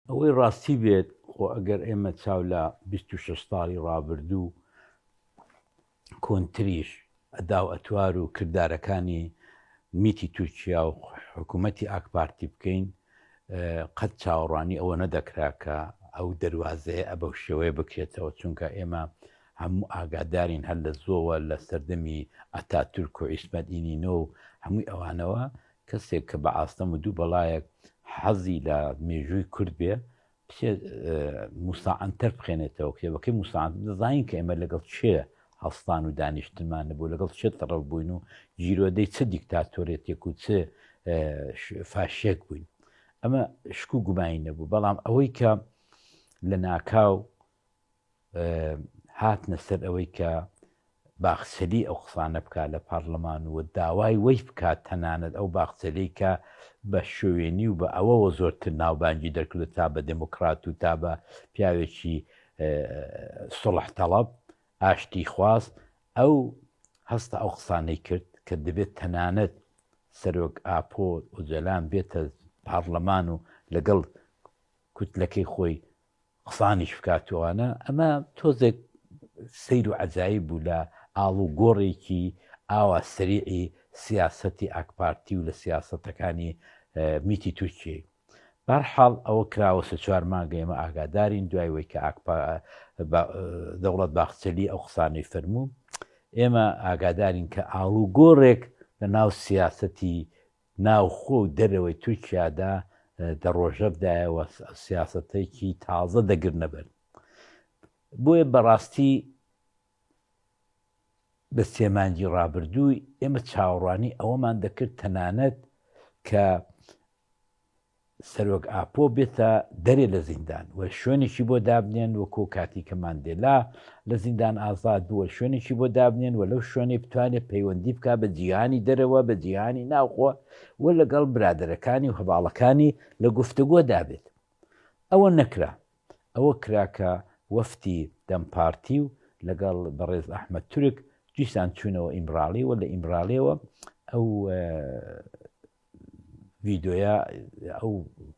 ئەوەی ڕاستی بێت خۆ ئەگەر ئێمە چاو لە 26 ساڵی ڕابردوو کۆنتریش ئەدا و ئەتوار و کردارەکانی میتی تورکیا و حکوومەتتی ئاکپارتی بکەین قەت چاوەڕوانی ئەوە نەدەکرا کە ئەو دەواازەیە ئە بەو شێوەیە بکرێتەوە چونکە ئێمە هەموو ئاگادارین هەر لە زۆوە لە سەردەمی ئەتا تورک و ئیسمەدینینۆ و هەمووی ئەوانەوە کەسێک کە بە ئاستەم و دوو بەڵایەک حەزی لە مێژووی کورد بێ بچێ موساعەنتەر بخێنێتەوە کتێبەکەی موساعەن دەزانین کە ئێمە لەگەڵ چێ هەڵستان و دانیشتمان نەبوو لەگەڵ چێت تەڕەو بووین و گیرۆدەی چ دیکتاتۆرێتێک و چ فاشێک بووین ئەمە شکو گومانی نەبوو بەڵام ئەوەی کە لە ناکاو هاتنە سەر ئەوەی کە باخچەلی ئەو قسانە بکات لە پارلەمان و داوای وەی بکات تەنانەت ئەو باخچەلی کە بە شوێنی و بە ئەوەوە زۆرتر ناوبانگی دەکردو تا بە دموکرات و تا بە پیاوێکی سڵح تەڵب ئاشتی خواز ئەو هەستە ئەو قسانەی کرد کە دەبێت تەنانەت سەرۆک ئاپۆ ئۆجەلان بێتە پارلەمان و لەگەڵ کوتلەکەی خۆی قسانیش بکات و ئەوانە، ئەمە تۆزێک سەیر و عەجایب بوو لە ئاڵوگۆڕێکی ئاوا سەریعی سیاسەتی ئاکپارتی و لە سیاسەتەکانی میتی تورکیەی. بەهەرحاڵ ئەوە کراوە سێ چوار مانگە ئێمە ئاگادارین دوای ئەوەی کە ئاکپا با دەوڵەت باخچەلی ئەو قسانەی فەرموو ئێمە ئاگادارین کە ئاڵوگۆڕێک لە ناو سیاسەتی ناوخۆ و دەرەوەی تورکیادا دە ڕۆژەڤ دایەوە سیاسەتێکی تازە دەگرنە بەر بۆیە بەڕاستی بە سێمانجی ڕابردووی ئێمە چاوەڕوانی ئەوەمان دەکرد تەنانەت کە سەرۆک ئاپۆ بێتە دەرێ لە زیندان و شوێنێکی بۆ دابنێن وەکۆ کاتی کە ماندێلا لە زیندان ئازاد بووە شوێنێکی بۆ دابنێن و لەو شوێنەی بتوانێت پەیوەندی بکا بە جیهانی دەرەوە بە جیهانی ناوخۆ و لەگەڵ برادەرەکانی و هەڤاڵەکانی لە گفتوگۆ دابێت ئەوە نەکرا ئەوە کراکە وەفتی دەم پارتی و لەگەڵ بەڕێز ئەحمد تورک دیسان چوونەوە ئیمراڵی و لە ئیمراڵیەوە ئەو ڤیدۆیە ئەو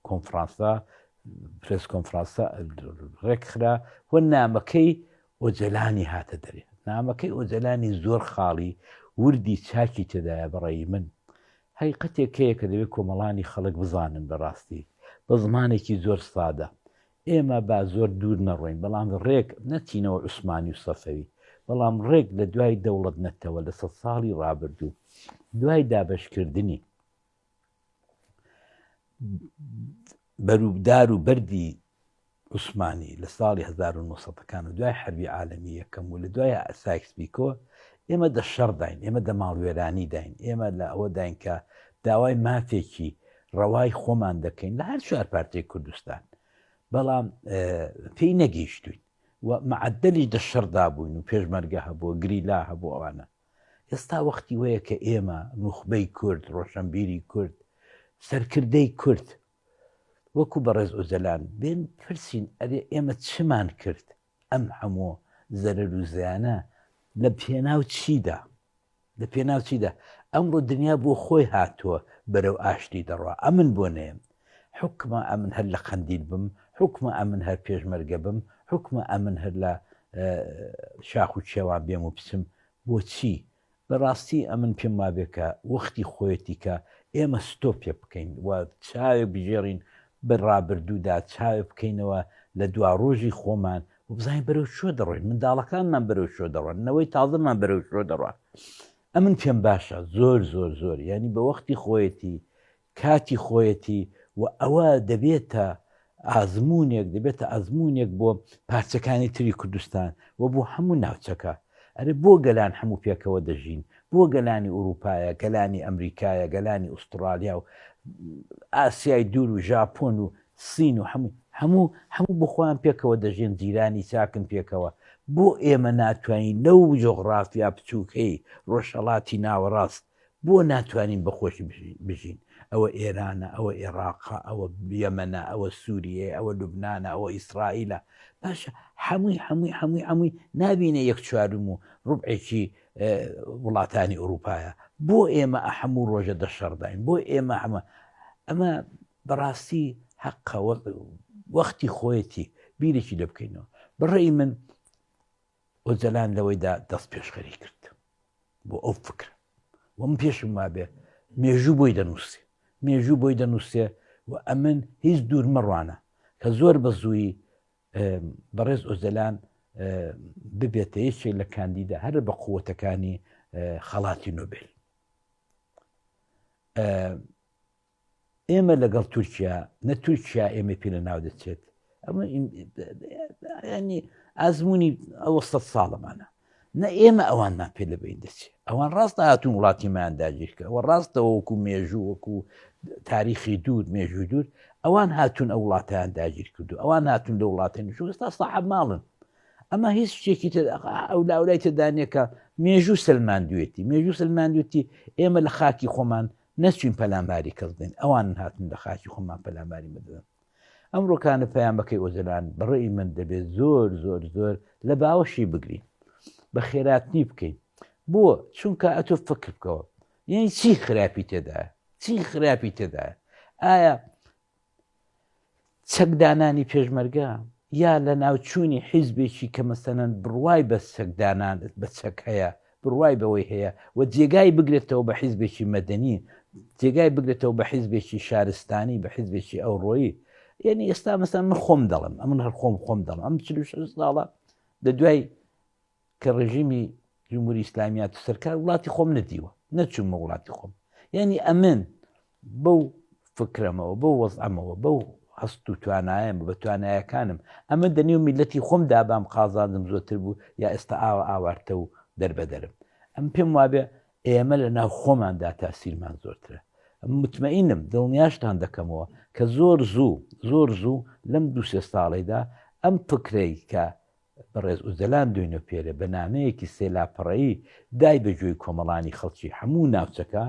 کۆنفرانسە پرس کۆنفرانسە ڕێکخرا و نامەکەی ئۆجەلانی هاتە دەرێ نامەکەی ئۆجەلانی زۆر خاڵی وردی چاکی تێدایە بەڕێی من هەی قەتێکەیە کە دەوێت کۆمەڵانی خەڵک بزانن بەڕاستی بە زمانێکی زۆر سادە ئێمە با زۆر دوور نەڕۆین، بەڵام ڕێک نەچینەوە عوسمانی و سەفەوی، بەڵام ڕێک لە دوای دەوڵەت نەتەوە لە سەد ساڵی ڕابردوو، دوای دابەشکردنی بەروبدار و بەردی عوسمانی لە ساڵی هەزار و نۆ سەد ەکان و دوای حەربی عالەمی یەکەم و لە دوای سایکس بیکۆ، ئێمە دە شەڕداین، ئێمە دە ماڵوێرانی داین، ئێمە لە ئەوە داین کە داوای مافێکی ڕەوای خۆمان دەکەین لە هەر چوار پارتەی کوردستان بەڵام پێی نەگەیشتوین و معدلی دە شەردا بووین و پێشمەرگە هەبوو گریلا هەبوو ئەوانە ئێستا وەختی وەیە کە ئێمە نوخبەی کورد ڕۆشنبیری کورد سەرکردەی کورد وەکو بەڕێز ئۆجەلان بێن پرسین ئەرێ ئێمە چمان کرد ئەم هەموو زەرەر و زیانە لە پێناو چیدا؟ لە پێناو چیدا؟ ئەمڕۆ دنیا بۆ خۆی هاتووە بەرەو ئاشتی دەڕوا، ئەمن بۆ نەیەم؟ حوکمە ئەمن هەر لە قەندیل بم، حوکمە ئەمن هەر پێشمەرگە بم، حوکمە ئەمن هەر لە شاخ و کێوان بێم و بچم، بۆچی؟ بە ڕاستی ئەمن پێم وابێ کە وەختی خۆیەتی کە ئێمە ستۆپێ بکەین و چاوێ بگێڕین بە ڕابردوو دا، چاوێ بکەینەوە لە دواڕۆژی خۆمان و بزانین بەرەو کوێ دەڕۆین، منداڵەکانمان بەرەو کوێ دەڕۆن، نەوەی تازەمان بەرەو کوێ دەڕوا. ئەمن پێم باشە زۆر زۆر زۆر یانی بە وەختی خۆیەتی کاتی خۆیەتی و ئەوە دەبێتە ئازموونێک دەبێتە ئازموونێک بۆ پارچەکانی تری کوردستان و بۆ هەموو ناوچەکە. ئەرێ بۆ گەلان هەموو پێکەوە دەژین؟ بۆ گەلانی ئورووپایە، گەلانی ئەمریکایە، گەلانی ئوستڕالیا و ئاسیای دوور و ژاپۆن و سین و هەموو هەموو هەموو بۆ خۆیان پێکەوە دەژێن، جیرانی چاکن پێکەوە، بۆ ئێمە ناتوانین لەو جۆغڕافیا بچووکەی ڕۆژهەڵاتی ناوەڕاست، بۆ ناتوانین بە خۆشی بژین؟ ئەوە ئێرانە، ئەوە ئێڕاقە، ئەوە یەمەنە، ئەوە سووریەیە، ئەوە لوبنانە، ئەوە ئیسرائیلە، باشە هەمووی هەمووی هەمووی هەمووی نابینێ یەک چوارم و ڕوبعێکی وڵاتانی ئورووپایە، بۆ ئێمە هەموو ڕۆژە دە شەڕداین، بۆ ئێمە هەمە ئەمە بەڕاستی هەقە وەختی خۆیەتی بیرێکی لێ بکەینەوە بەڕێی من ئۆجەلان لەوەیدا دەست پێشخەری کرد بۆ ئەو فکرە و من پێشم وابێ مێژوو بۆی دەنووسێ مێژوو بۆی دەنووسێ و ئەمن هیچ دوور مەڕوانە کە زۆر بە زووی بەڕێز ئۆجەلان ببێتە یەکێک لە کاندیدا هەر بە قووەتەکانی خەڵاتی نوبل ئێمە لەگەڵ تورکیا نە تورکیا ئێمە پێ لە ناو دەچێت ئەمە ینی ئازمموی ئەوە سە ساڵەمانە نە ئێمە ئەوانمان پێ لە بین دەچێت ئەوان ڕاست هاتوون وڵاتیمان داگیرکە ئەوە ڕاستەوە وەکو مێژوو وەکو تاریخی دوور مێژوو دوور ئەوان هاتوون ئە وڵاتیان داگیر کردو ئەوان هاتون لە وڵاتین شوستا ساحب ماڵن ئەمە هیچ شتێکی تر ئەو لاولای تدانەکە مێژوو سلماندوێتی مێژوو سلماندوێتی ئێمە لە خاکی خۆمان نەچوین پەلاماری کەس بدەین ئەوان هاتن لە خاکی خۆمان پەلاماری بدەن ئەم ڕۆکانە پەیامەکەی ئۆجلان بەڕێی من دەبێت زۆر زۆر زۆر لە باوەشی بگرین بە خێراتنی بکەین بۆ چونکە ئەتۆ فکر بکەوە یعنی چی خراپی تێدایە چی خراپی تێدایە ئایا چەک دانانی پێشمەرگە یا لەناوچوونی حیزبێکی کە مەسەلەن بڕوای بە چەک دانان بە چەک هەیە بڕوای بەوەی هەیە و جێگای بگرێتەوە بە حیزبێکی مەدەنی جێگای بگرێتەوە بە حیزبێکی شارستانی بە حیزبێکی ئەوڕۆیی یعنی ئێستا مەسەن من خۆم دەڵم ئەمن هەر خۆم خۆم دەڵم ئەم چ ساڵە لە دوای کە ڕێژیمی جمهوری ئیسلامی هاتە سەر کار وڵاتی خۆم نەدیوە نەچوومە وڵاتی خۆم یعنی ئەمن بەو فکرەمەوە بەو وەزعەمەوە بەو هەست و توانایەمە بە توانایەکانم ئەمە دەنێو میلەتی خۆم دابام قازادم زۆتر بوو یا ئێستا ئاوە ئاوارتە و دەربەدەرم ئەم پێم وابێ ئێمە لە ناو خۆماندا تاسیرمان زۆرترە متمەینم دڵنیاشتان دەکەمەوە کە زۆر زوو زۆر زوو لەم دوو سێ ساڵێدا ئەم فکرەی کە بەڕێز ئۆجەلان دۆینۆپێرێ بە نامەیەکی سێ لاپەڕەیی دای بە گوێی کۆمەڵانی خەڵکی هەموو ناوچەکە،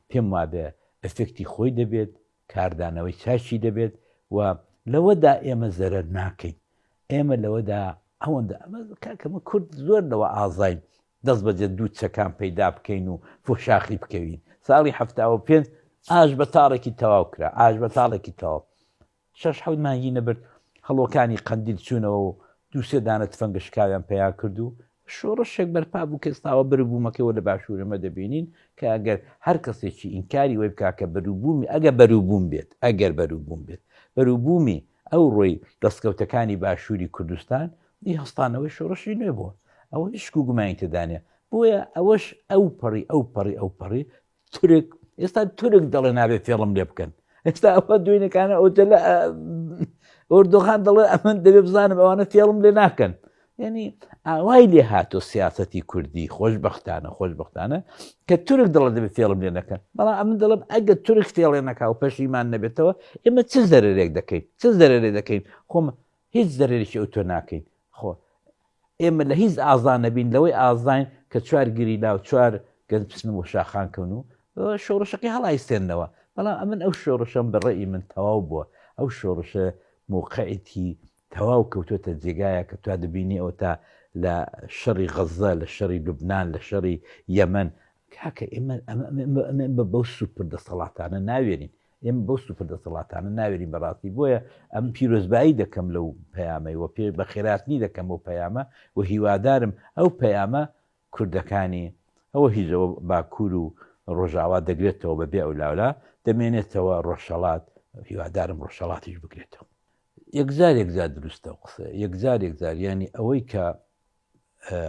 پێم وابێ ئەفێکتی خۆی دەبێت، کاردانەوەی چاکی دەبێت و لەوەدا ئێمە زەرەر ناکەین. ئێمە لەوەدا ئەوەندە ئەمە کاکە ئەمە کورد زۆر لەوە ئازاین دەستبەجێ دوو چەکان پەیدا بکەین و فۆشاخی بکەوین. ساڵی هەفتا و پێنج ئاش بە تاڵێکی تەواو کرا، ئاش بە تاڵێکی تەواو. شەش حەوت مانگی نەبرد هەڵۆکانی قەندیل چوونەوە و دوو سێ دانە تفەنگە شکاویان پەیا کرد و شۆڕشێک بەرپا بوو کە ئێستاوە بەروبوومەکەی وە لە باشوور ئێمە دەبینین کە ئەگەر هەر کەسێکی ئینکاری وەی بکا کە بەروبوومی ئەگە بەروبووم بێت ئەگەر بەروبووم بێت بەروبوومی ئەو ڕۆی دەستکەوتەکانی باشووری کوردستان دی هەستانەوەی شۆڕشی نوێ بووە ئەوە هیچ گومانی تێدانە بۆیە ئەوەش ئەو پەڕی ئەو پەڕی ئەو پەڕی تورک ئێستا تورک دەڵێ نابێت فێڵم لێ بکەن ئێستا ئەوە دوێنەکانە ئۆجلە ئۆردۆغان دەڵێ ئەمن دەبێ بزانم ئەوانە فێڵم لێ ناکەن یعنی ئاوای لێ هاتۆ سیاستی کوردی خۆشببختانە خۆشببختانە کە تورک دڵە دەبێت فێڵم لێ نەکەن بەڵام ئەمن دەڵم ئەگە تورک فێڵێ نەکا و پەشیمان نەبێتەوە ئێمە چ زەرێک دەکەین چ زەرێ دەکەین خۆم هیچ زەرەرێکی ئەو تۆ ناکەین خۆ ئێمە لە هیچ ئازا نەبین لەوەی ئازاین کە چوار گری لاو چوار گەنج بچن و شاخان کەون و شۆڕشەکەی هەڵایستێنەوە بەڵام ئەمن ئەو شۆڕشەم بەڕێی من تەواو بووە ئەو شۆڕشە موقعیتی تەواو کەوتۆتە جێگایە کە توا دەبینی ئەو تا لە شەڕی غەزە لە شەڕی لوبناان لە شەڕی یەمەن کاکە ئێمە بە بەو سوپر دەسەڵاتانە ناوێنین ئێمە بەو سوپر دەسەڵاتانە ناوێرین بە ڕاستی بۆیە ئەم پیرۆزبایی دەکەم لەو پەیامەی وە پێ بە خێراتنی دەکەم بۆ پەیامە و هیوادارم ئەو پەیامە کوردەکانی ئەوە هیزەوە باکوور و ڕۆژاوا دەگرێتەوە بە بێ ئەو لاولا دەمێنێتەوە ڕۆژهڵات هیوادارم ڕۆژهڵاتیش بگرێتەوە یەکجار یەکجار دروستە و قسە یەکجار یەکجار ینی ئەوەی کە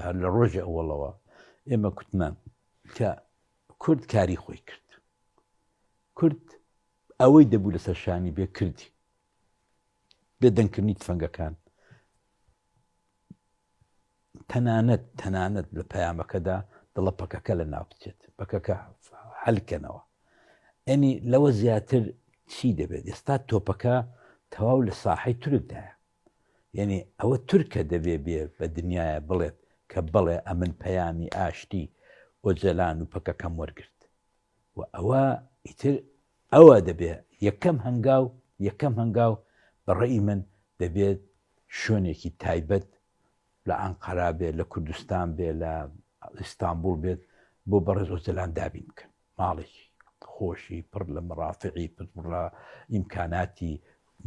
هەر لە ڕۆژی ئەوڵەوە ئێمە کوتمان کە کورد کاری خۆی کرد. کورد ئەوەی دەبوو لەسەر شانی بێ کردی. بێ دەنگکردنی تفەنگەکان. تەنانەت تەنانەت لە پەیامەکەدا دڵە پەکەکە لە ناو بچێت پەکەکە حلکەنەوە ئەنی لەوە زیاتر چی دەبێت ئێستا تۆپەکە تەواو لە ساحەی تورکدایە یەنی ئەوە تورکە دەبێ بێ بە دنیایە بڵێت کە بەڵێ ئەمن پەیامی ئاشتی ئۆجەلان و پەکەکەم وەرگرت و ئەوە ئیتر ئەوە دەبێ یەکەم هەنگاو یەکەم هەنگاو بە ڕێی من دەبێت شوێنێکی تایبەت لە ئەنقەرا بێت لە کوردستان بێت لە ئیستانبول بێت بۆ بەڕێز ئۆجەلان دابین بکەن ماڵێکی خۆشی پڕ لە مەڕافعی پڕ لە ئیمکاناتی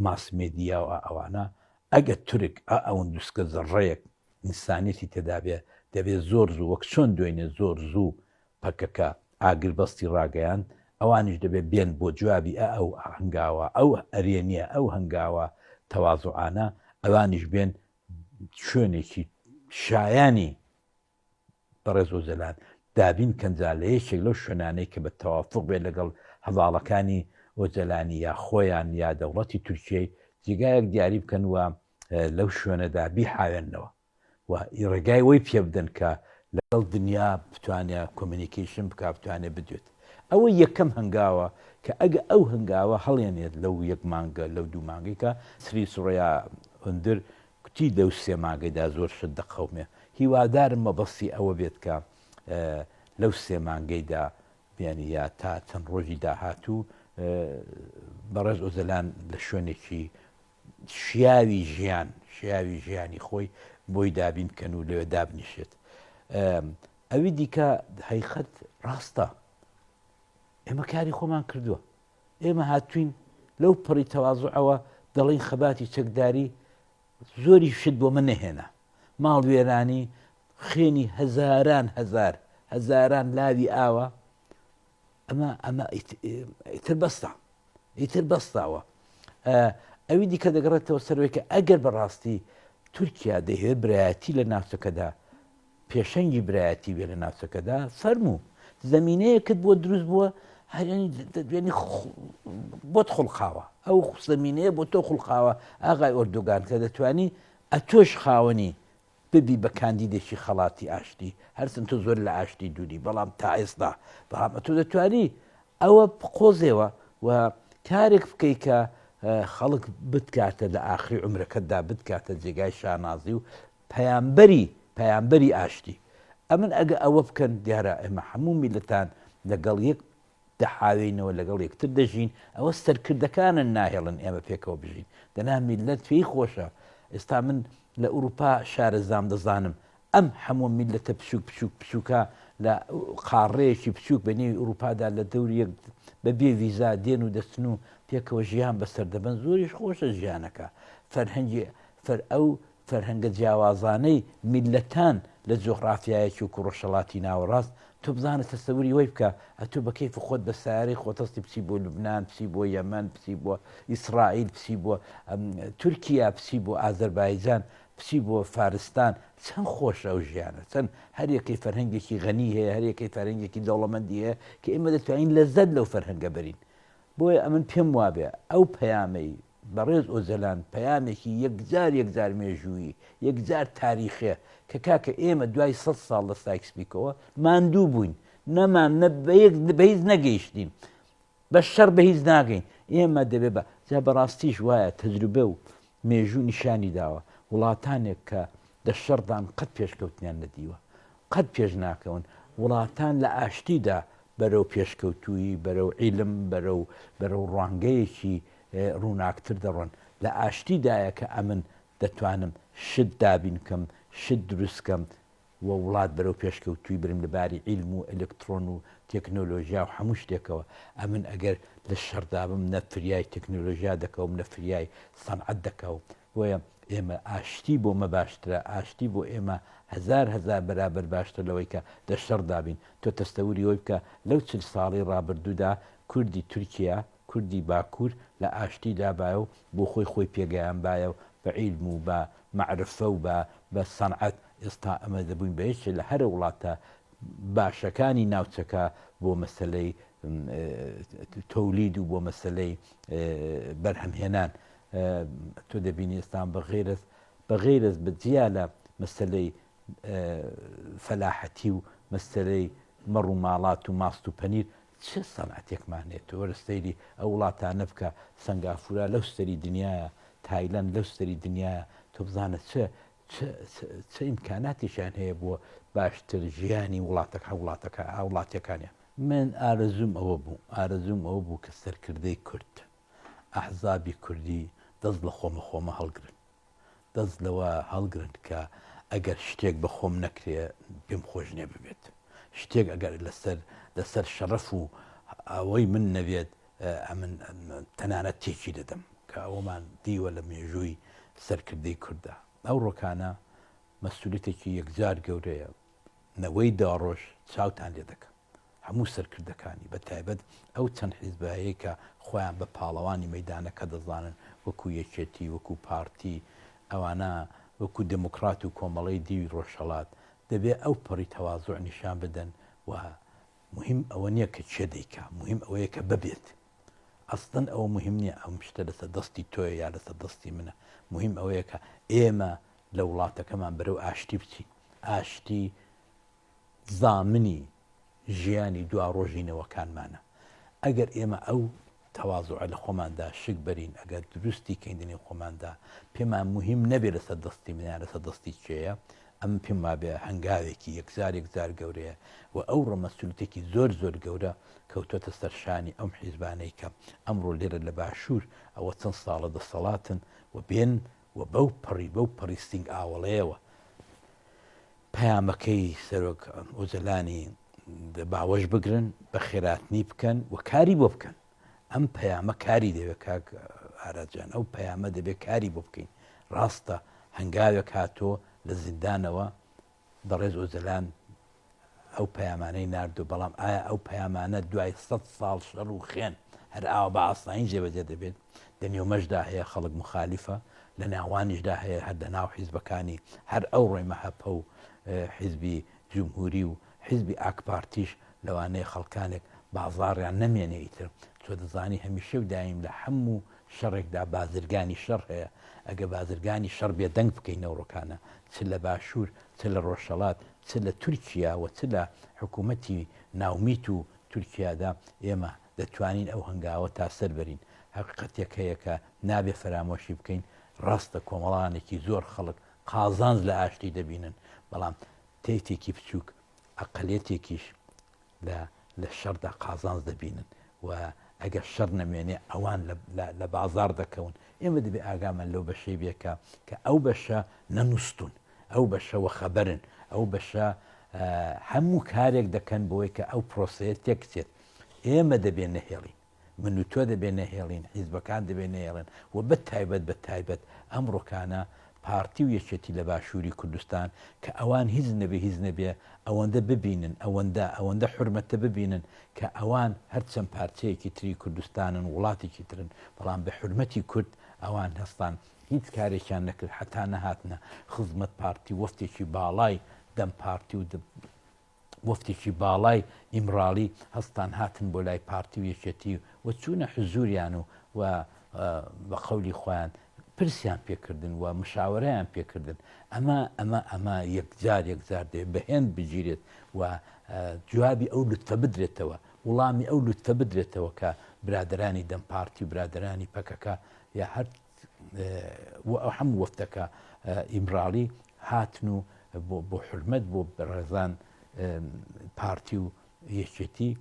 ماس مێدیا و ئەوانە ئەگەر تورک ئا ئەوندوسکە زەڕڕەیەک ئینسانیەتی تێدابێ دەبێ زۆر زوو وەک چۆن دوێنێ زۆر زوو پەکەکە ئاگربەستی ڕاگەیاند ئەوانیش دەبێ بێن بۆ جوابی ئا ئەو هەنگاوە ئەو ئەرێنیە ئەو هەنگاوە تەوازوعانە ئەوانیش بێن شوێنێکی شایانی بەڕێز ئۆجەلان دابین کەنجا لە یەکێک لەو شوێنانەی کە بە تەوافوق بێت لەگەڵ هەڤاڵەکانی ئۆجەلانی یا خۆیان یا دەوڵەتی تورکیەی جێگایەک دیاری بکەن و لەو شوێنەدا بیحاوێننەوە و ڕێگای وەی پێ بدەن کە لەگەڵ دنیا بتوانێ کۆمینیکیشن بک بتوانێ بدوێت ئەوە یەکەم هەنگاوە کە ئەگە ئەو هەنگاوە هەڵێنێت لەو یەک مانگە لەو دوو مانگێکە سری سوڕیا ئەندر کوتی لەو سێ مانگەیدا زۆر شت دەقەومێ، هیوادارم مەبەستی ئەوە بێت کە لەو سێ مانگەیدا بیانی یا تا چەند ڕۆژی داهاتوو بەڕێز ئۆجەلان لە شوێنێکی شیاوی ژیان شیاوی ژیانی خۆی بۆی دابین کەن و لەوێ دابنیشێت ئەوی دیکە هەیخەت ڕاستە ئێمە کاری خۆمان کردووە ئێمە هاتووین لەو پەڕی تەوازوعەوە دەڵێین خەباتی چەکداری زۆری شت بۆمە نەهێنا ماڵ وێرانی خوێنی هەزاران هەزار هەزاران لاوی ئاوە ئەمە ئەمە ئیتر بەستا ئیتر بەستاوە ئەوی دیکە دەگەڕێتەوە سەرۆکە ئەگەر بەڕاستی تورکیا دەهێ برایەتی لە ناوچەکەدا پێشەنگی برایەتی بێ لە ناوچەکەدا فەرموو زمینەیەکت بۆ دروست بووە هەرێنی بۆت خوڵقاوە ئەو زمینەیە بۆ تۆ خوڵقاوە ئاغای ئۆردوگان کە دەتانی ئەتۆش خاوەنی ببی بە کاندیدێکی خەڵاتی ئاشتی هەرچەند تۆ زۆر لە ئاشتی دووری بەڵام تا ئێستا بەڵام ئەتۆ دەتوانی ئەوە قۆزێەوە و کارێک بکەیت کە خەڵک بتکاتە لە ئاخری عمرەکەتدا بتکاتە جێگای شانازی و پەیامبەری پەیامبەری ئاشتی ئەمن ئەگە ئەوە بکەن دیارە ئێمە حەموو میلەتان لەگەڵ یەک دەحاوێینەوە لەگەڵ یەکتر دەژین ئەوە سەرکردەکانن ناهێڵن ئێمە پێکەوە بژین دەنا میلەت پێی خۆشە ئێستا من لە ئوروپا شارەزام دەزانم ئەم حەموو میلەتە بچوک بچوک بچووکە لە قاڕەیەکی بچووک بە نێوی ئوروپادا لە دەوری بە بێ ویزا دێن و دەستن و پێکەوە ژیان بەسەر دەبن زۆریش خۆشە ژیانەکە فەرهەنگی فەر ئەو فەرهەنگە جیاوازانەی میللەتان لە جوغڕافیایە چووک و ڕۆژهەڵاتی ناوەڕاست، تۆ بزانە تەسەوری وەی بکە، ئەتۆ بە کەیف خۆت بە سەیارەی خۆت هەستی بچی بۆ لوبنان، بچی بۆ یەمەن، بچی بۆ ئیسڕائیل، بچی بۆ تورکیا، بچی بۆ ئازەربایجان، بچی بۆ فارستان، چەند خۆشە ئەو ژیانە، چەند هەر یەکەی فەرهەنگێکی غەنی هەیە، هەر یەکەی فەرهەنگێکی دەوڵەمەندی هەیە کە ئێمە دەتوانین لەزەت لەو فەرهەنگە بەرین. بۆیە ئەمن پێم وابێ ئەو پەیامەی. بەڕێز ئۆجەلان پەیامێکی یەکجار یەکجار مێژوویی، یەکجار تاریخیە کە کاکە ئێمە دوای سەد ساڵ لە سایکس پیکۆوە ماندوو بووین، نەمان نە بە یەک بە هیچ نەگەیشتین، بە شەڕ بە هیچ ناگەین، ئێمە دەبێ بە جا بە ڕاستیش وایە تەجروبە و مێژوو نیشانی داوە وڵاتانێک کە دە شەڕدان قەت پێشکەوتنیان نەدیوە قەت پێش ناکەون، وڵاتان لە ئاشتیدا بەرەو پێشکەوتوویی بەرەو عیلم بەرەو بەرەو ڕوانگەیەکی ڕووناکتر دەڕۆن لە ئاشتی دایە کە ئەمن دەتوانم شت دابین کەم شت دروست کەم و وڵات بەرەو پێشکەوتووی برم لە باری عیلم و ئەلکتڕۆن و تێکنۆلۆژیا و هەموو شتێکەوە ئەمن ئەگەر لە شەڕدابم نە فریای تێکنۆلۆژیا دەکەوم نە فریای سەنعەت دەکەوم بۆیە ئێمە ئاشتی بۆمە باشترە ئاشتی بۆ ئێمە هەزار هەزار بەرابەر باشتر لەوەی کە دە شەڕدابین تۆ تەستەوری ئەوی بکە لەو چل ساڵی ڕابردوودا کوردی تورکیا کوردی باکوور لە ئاشتی دابایە و بۆ خۆی خۆی پێگەیانبایە و بە عیلم و بە مەعرفە و بە بە سەنعەت ئێستا ئەمە دەبووین بە یەکێ لە هەرە وڵاتە باشەکانی ناوچەکە بۆ مەسەلەی تولید و بۆ مەسەلەی بەرهەمهێنان تۆ دەبینی ئێستان بە غیرەت بە غیرەت بە جیا لە مەسەلەی فەلاحەتی و مەسەلەی مەڕ و ماڵات و ماست و پەنیر چ سەنعەتێکمان هەیە تۆ وەرە سەیری ئەو وڵاتانە بکە سەنگافورە لەو ستەری دنیایە تایلەند لەو ستەری دنیایە تۆ بزانە چ چ چ چ ئیمکاناتیشیان هەیە بۆ باشتر ژیانی وڵاتەکە هە وڵاتەکە ئا وڵاتیەکانیان. من ئارەزووم ئەوە بوو ئارەزووم ئەوە بوو کە سەرکردەی کورد ئەحزابی کوردی دەست لە خۆمە خۆمە هەڵگرن. دەست لەوە هەڵگرن کە ئەگەر شتێک بە خۆم نەکرێ پێم خۆش نێ ببێت شتێک ئەگەر لەسەر لەسەر شەڕەف و ئەوەی من نەبێت ئەمن تەنانەت تێکی دەدەم کە ئەومان دیوە لە مێژووی سەرکردەی کووردا ئەو ڕۆکانە مەسوولێتێکی یەکجار گەورەیە نەوەی داڕۆژ چاوتان لێ دەکەم هەموو سەرکردەکانی بە تایبەت ئەو چەند حیزبەیەی کە خۆیان بە پاڵەوانی مەیدانەکە دەزانن وەکو یەکێتی وەکو پارتی ئەوانە وەکو دێموکڕات و کۆمەڵەی دیوی ڕۆژهەڵات دەبێ ئەو پەڕی تەوازوع نیشان بدەن و موهیم ئەوە نیە کە کێ دەیکا موهیم ئەوەیە کە ببێت ئەسڵەن ئەوە موهیم نیە ئەم شتە لەسەر دەستی تۆیە یا لەسەر دەستی منە موهیم ئەوەیە کە ئێمە لە وڵاتەکەمان بەرەو ئاشتی بچین ئاشتی زامنی ژیانی دوا ڕۆژی نەوەکانمانە ئەگەر ئێمە ئەو تەوازوعە لە خۆماندا شک بەرین ئەگەر دروستی کەیندنی خۆماندا پێمان مهم نەبێت لەسەر دەستی منیان لەسەر دەستی چێە ئەم پێم وابێ هەنگاوێکی یەکجار یەکجار گەورەیە و ئەو ڕەمەسولتێکی زۆر زۆر گەورە کەوتۆتە سەرشانی ئەم حیزبانەی کە ئەمڕۆ لێرە لە باشوور ئەوە چەند ساڵە دەسەڵاتن و بێن و بەو پەڕی بەو پەڕی ستینگ ئاوەڵەیەوە پەیامەکەی سەرۆک ئۆجەلانی باوەش بگرن بە خێراتنی بکەن و کاری بۆ بکەن ئەم پەیامە کاری دەوێت کاک ئاراجان ئەو پەیامە دەبێت کاری بۆ بکەین ڕاستە هەنگاوێک هاتۆ لە زیندانەوە بەڕێز ئۆجەلان ئەو پەیامانەی ناردو بەڵام ئایا ئەو پەیامانە دوای سەد ساڵ شەڕ و خێن هەر ئاوا بە ئاسایی جێبەجێ دەبێت لە نێومەشدا هەیە خەڵک مخالیفە لە ناوانیشدا هەیە هەر لە ناو حیزبەکانی هەر ئەو ڕۆی مەهەپە و حیزبی جمهوری و حیزبی ئاکپارتیش لەوانەیە خەڵکانێک بازاڕیان نەمێنێ ئیتر تۆ دەزانی هەمیشە و دایم لە هەموو شەڕێکدا بازرگانی شەڕ هەیە، ئەگە بازرگانی شەڕ بێدەنگ بکەی نەوڕۆکانە چ لە باشوور چ لە ڕۆژهەڵات چ لە تورکیا و چ لە حکوومەتی ناومیت و تورکیادا ئێمە دەتوانین ئەو هەنگاوە تا سەر بەرین. هەقیقەتێک هەیە کە نابێ فەرامۆشی بکەین، ڕاستە کۆمەڵانێکی زۆر خەڵک قازانج لە ئاشتی دەبینن، بەڵام تەیفێکی بچووک، ئەقەلیەتێکیش لە لە شەڕدا قازانج دەبینن و ئەگەر شەڕ نەمێنێ ئەوان لە لە بازاڕ دەکەون ئێمە دەبێ ئاگامان لەو بەشەی بێ کە کە ئەو بەشە نەنووستون ئەو بەشە وەخەبەرن ئەو بەشە هەموو کارێک دەکەن بۆی کە ئەو پرۆسەیە تێکچێت ئێمە دەبێ نەهێڵین من و تۆ دەبێ نەهێڵین، حیزبەکان دەبێ نەهێڵن و بە تایبەت بە تایبەت ئەمڕۆکانە پارتی و یەکێتی لە باشووری کوردستان کە ئەوان هیچ نەبێ هیچ نەبێ ئەوەندە ببینن، ئەوەندە ئەوەندە حورمەتە ببینن کە ئەوان هەر چەند پارچەیەکی تری کوردستانن، وڵاتێکی ترن بەڵام بە حورمەتی کورد ئەوان هەستان هیچ کارێکیان نەکرد هەتا نەهاتنە خزمەت پارتی وەفتێکی باڵای دەم پارتی و موفتیی باڵای ئیمڕاڵی هەستان هاتن بۆ لای پارتی و یەکێتی و چوونە حزووریان و و بە قەولی خۆیان پرسیان پێکردن و مشاوەرەیان پێکردن ئەمە ئەمە ئەمە یەکجار یەکجار دێ بەهێند بگیرێت و جوابی ئەو لوتفە بدرێتەوە وڵامی ئەو لوتفە بدرێتەوە کە برادرانی دەم پارتی و برادرانی پەکەکە یا هەر و هەموو وەفدەکە ئیمراڵی هاتن و بۆ حرمەت بۆ بەڕێزان پارتی و یەکێتی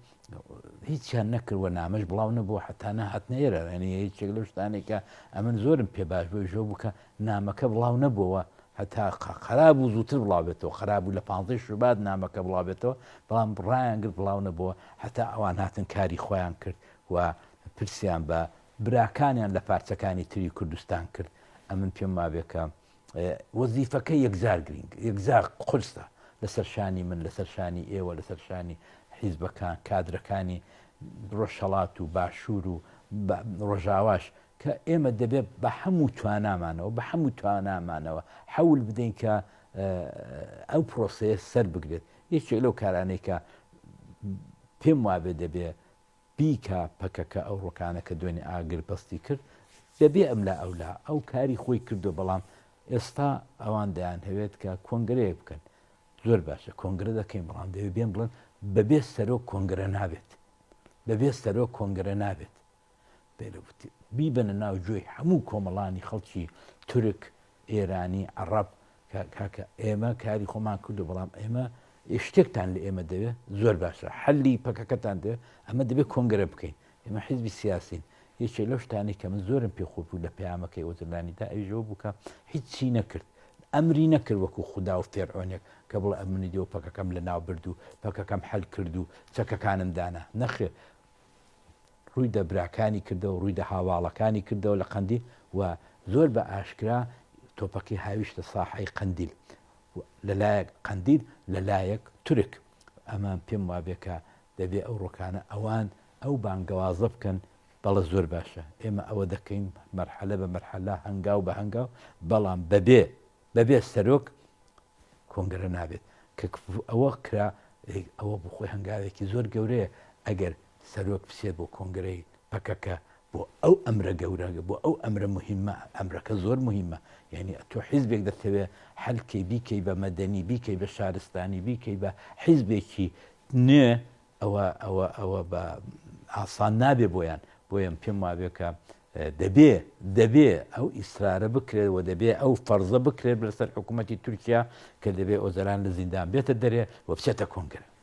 هیچیان نەکردوە نامەش بڵاو نەبوو حتا نەهات نێرە ئەنی هیچێک لە شتانێکە ئەمن زۆرم پێ باش بۆ ژۆ بکە نامەکە بڵاو نەبووەوە هەتا خراب و زووتر بڵاوێتەوە خراب و لە پانزەی شوبات نامەکە بڵاوێتەوە بەڵام بڕایان گرت بڵاو نەبووە هەتا ئەوان هاتن کاری خۆیان کرد و پرسیان بە براکانیان لە پارچەکانی تری کوردستان کرد، ئەمن پێم وابێ کە وەزیفەکە یەکجار گرینگ یەکجار قورسە لەسەر شانی من لەسەر شانی ئێوە لەسەر شانی حیزبەکان کادرەکانی ڕۆژهڵات و باشوور و ڕۆژاواش کە ئێمە دەبێت بە هەموو توانامانەوە بە هەموو توانامانەوە حەول بدەین کە ئەو پرۆسەیە سەر بگرێت یەکێک لەو کارانێکە پێم وابێ دەبێ بیکا پەکەکە ئەوڕۆکانە کە دوێنێ ئاگر بەستی کرد بەبێ ئەملا ئەولا ئەو کاری خۆی کردو بەڵام ئێستا ئەوان دەیان هەوێت کە کۆنگرەیەک بکەن زۆر باشە کۆنگرە دەکەین بەڵام دەوێت بێن بڵێن بەبێ سەرۆک کۆنگرە نابێت بەبێ سەرۆک کۆنگرە نابێت بێرەوتی بیبەنە ناو جۆی هەموو کۆمەڵانی خەڵکی تورک ئێرانی، عەڕەب، کە کاکە ئێمە کاری خۆمان کردوە بەڵام ئێمە ی شتێکتان لە ئێمە دەوێ زۆر باشە حەلی پەکەکەتان دەوێ ئەمە دەبێ کۆنگرە بکەین ئێمە حیزبی سیاسین یەکێ لەو شتانەی کە من زۆرم پێ خۆپوو لە پەیامەکەی ئۆجەلانیدا ئەویژەوە بووکە هیچی نەکرد ئەمری نەکرد وەکو خودا و فێرعۆنێک کە بڵێ ئەمنی دێ و پەکەکەم لە ناو برد و پەکەکەم حەل کرد و چەکەکانم دانا نەخێر ڕووی دە براکانی کردەوە، ڕووی دە هاواڵەکانی کردەوە لە قەندیل و زۆر بە ئاشکرا تۆپەکەی هاویشتە ساحەی قەندیل لە لایەک قەندیل لە لایەک تورک ئەمە پێم وابێ کە دەبێ ئەو ڕۆکانە ئەوان ئەو بانگەوازە بکەن بەڵە زۆر باشە ئێمە ئەوە دەکەین مەرحەلە بە مەرحەلە هەنگاو بە هەنگاو بەڵام بەبێ بەبێ سەرۆک کۆنگرە نابێت کە کفو ئەوە کرا ئەوە بۆ خۆی هەنگاوێکی زۆر گەورەیە ئەگەر سەرۆک بچێت بۆ کۆنگرەی پەکەکە بۆ ئەو ئەمرە گەورە بۆ ئەو ئەمرە مهمە ئەمرەکە زۆر مهمە یعنی تۆ حیزبێک دەتەوێت حلکەی بیکەی بە مەدەنی بیکەی بە شارستانی بیکەی بە حیزبێکی نوێ ئەوە ئەوە ئەوە بە ئاسان نابێ بۆیان بۆیە پێم وابێ کە دەبێ دەبێ ئەو ئیسرارە بکرێت و دەبێ ئەو فەرزە بکرێت لەسەر حکوومەتتی تورکیا کە دەبێ ئۆزەران لە زیندان بێتە دەرێ و بچێتە کۆنگرە